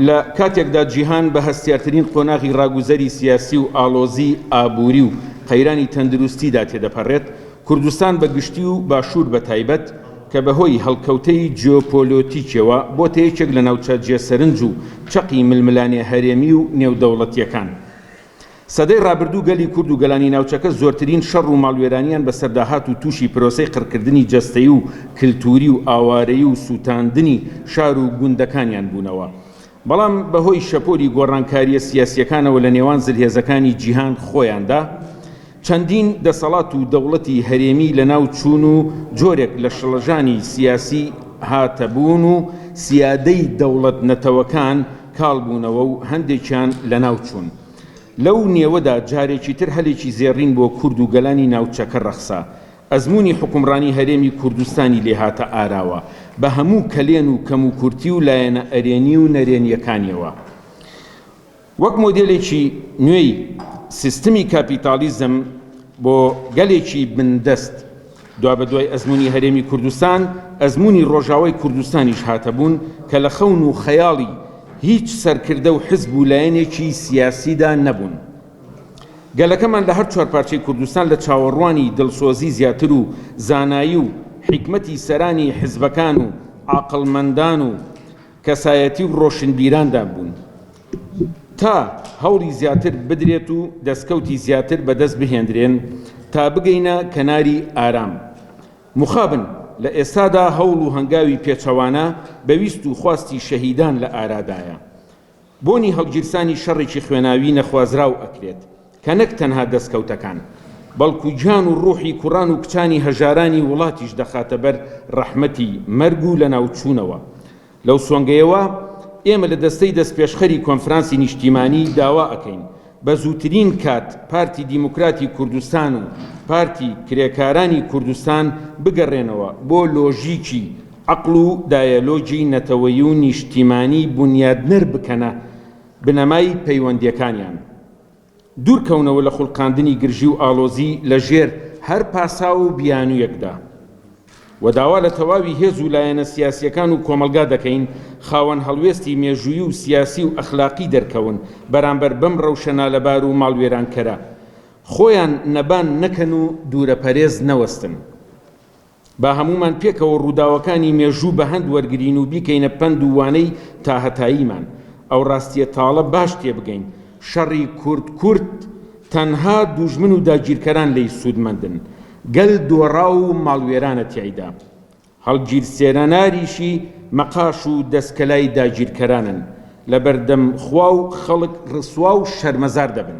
لە کاتێکدا جیهان بە هەستیارترین قۆناغی ڕاگوزەری سیاسی و ئاڵۆزی ئابووری و قەیرانی تەندروستیدا تێدەپەڕێت، کوردستان بە گشتی و باشوور بە تایبەت کە بە هۆی هەڵکەوتەی جیۆپۆلۆتیکیەوە بۆتە یەکێک لە ناوچە جێ سەرنج و چەقی ململانێ هەرێمی و نێودەوڵەتیەکان. سەدەی ڕابردوو گەلی کورد و گەلانی ناوچەکە زۆرترین شەڕ و ماڵوێرانیان بەسەردا هات و تووشی پرۆسەی قڕکردنی جەستەیی و کلتووری و ئاوارەیی و سووتاندنی شار و گوندەکانیان بوونەوە بەڵام بەهۆی شەپۆلی گۆڕانکارییە سیاسییەکانەوە لە نێوان زلهێزەکانی جیهان خۆیاندا چەندین دەسەڵات و دەوڵەتی هەرێمی لەناو چوون و جۆرێک لە شڵەژانی سیاسی هاتە بوون و سیادەی دەوڵەت نەتەوەکان کاڵ بوونەوە و هەندێکیان لەناو چوون. لەو نێوەدا جارێکی تر هەلێکی زێڕین بۆ کورد و گەلانی ناوچەکە ڕەخسا. ئەزموونی حوکمڕانی هەرێمی کوردستانی لێ هاتە ئاراوە بە هەموو کەلێن و کەموکورتی و لایەنە ئەرێنی و نەرێنییەکانییەوە. وەک مۆدێلێکی نوێی سیستمی کاپیتاڵیزم بۆ گەلێکی بندەست، دوابەدوای ئەزموونی هەرێمی کوردستان، ئەزموونی ڕۆژاوای کوردستانیش هاتە بوون کە لە خەون و خەیاڵی هیچ سەرکردە و حزب و لایەنێکی سیاسیدا نەبوون. گەلەکەمان لە هەر چوار پارچەی کوردستان لە چاوەڕوانی دڵسۆزی زیاتر و زانایی و حیکمەتی سەرانی حزبەکان و عاقڵمەندان و کەسایەتی و ڕۆشنبیراندان بوون تا هەوڵی زیاتر بدرێت و دەستکەوتی زیاتر بەدەست بهێندرێن تا بگەینە کەناری ئارام مخابن لە ئێستادا هەوڵ و هەنگاوی پێچەوانە بە ویست و خواستی شەهیدان لە ئارادایە. بۆنی هەڵگیرسانی شەڕێکی خوێناوی نەخوازراو ئەکرێت کە نەک تەنها دەستکەوتەکان بەڵکو گیان و ڕوحی کوڕان و کچانی هەژارانی وڵاتیش دەخاتە بەر ڕەحمەتی مەرگ و لەناوچوونەوە لەو سۆنگەیەوە ئێمە لە دەستەی دەستپێشخەری کۆنفرانسی نیشتیمانی داوا ئەکەین بە زووترین کات پارتی دیموکراتی کوردستان و پارتی کرێکارانی کوردستان بگەڕێنەوە بۆ لۆژیکی عەقڵ و دایەلۆگی نەتەوەیی و نیشتیمانی بونیادنەر بکەنە بنەمای پەیوەندیەکانیان دوورکەونەوە لە خوڵقاندنی گرژی و ئاڵۆزی لە ژێر هەر پاساو و بیانویەکدا و داوا لە تەواوی هێز و لایەنە سیاسییەکان و کۆمەڵگا دەکەین خاوەن هەڵوێستی مێژوویی و سیاسی و ئەخلاقی دەرکەون بەرامبەر بەم رەوشە نالەبار و ماڵوێرانکەرە خۆیان نەبان نەکەن و دوورەپەرێز نەوەستن. با هەموومان پێکەوە رووداوەکانی مێژوو بەهەند وەرگرین و بیکەینە پەند و وانەی تاهەتاییمان ئەو راستییە تاڵە باش تێبگەین شەڕی کورد کورد تەنها دوژمن و داگیرکەران لێی سوودمەندن گەل دۆڕاو و ماڵوێرانە تیایدا، هەڵگیرسێناناریشی مەقاش و دەسکەلای داگیرکەرانن، لەبەردەم خوا و خەڵک ڕسوا و شەرمەزار دەبن.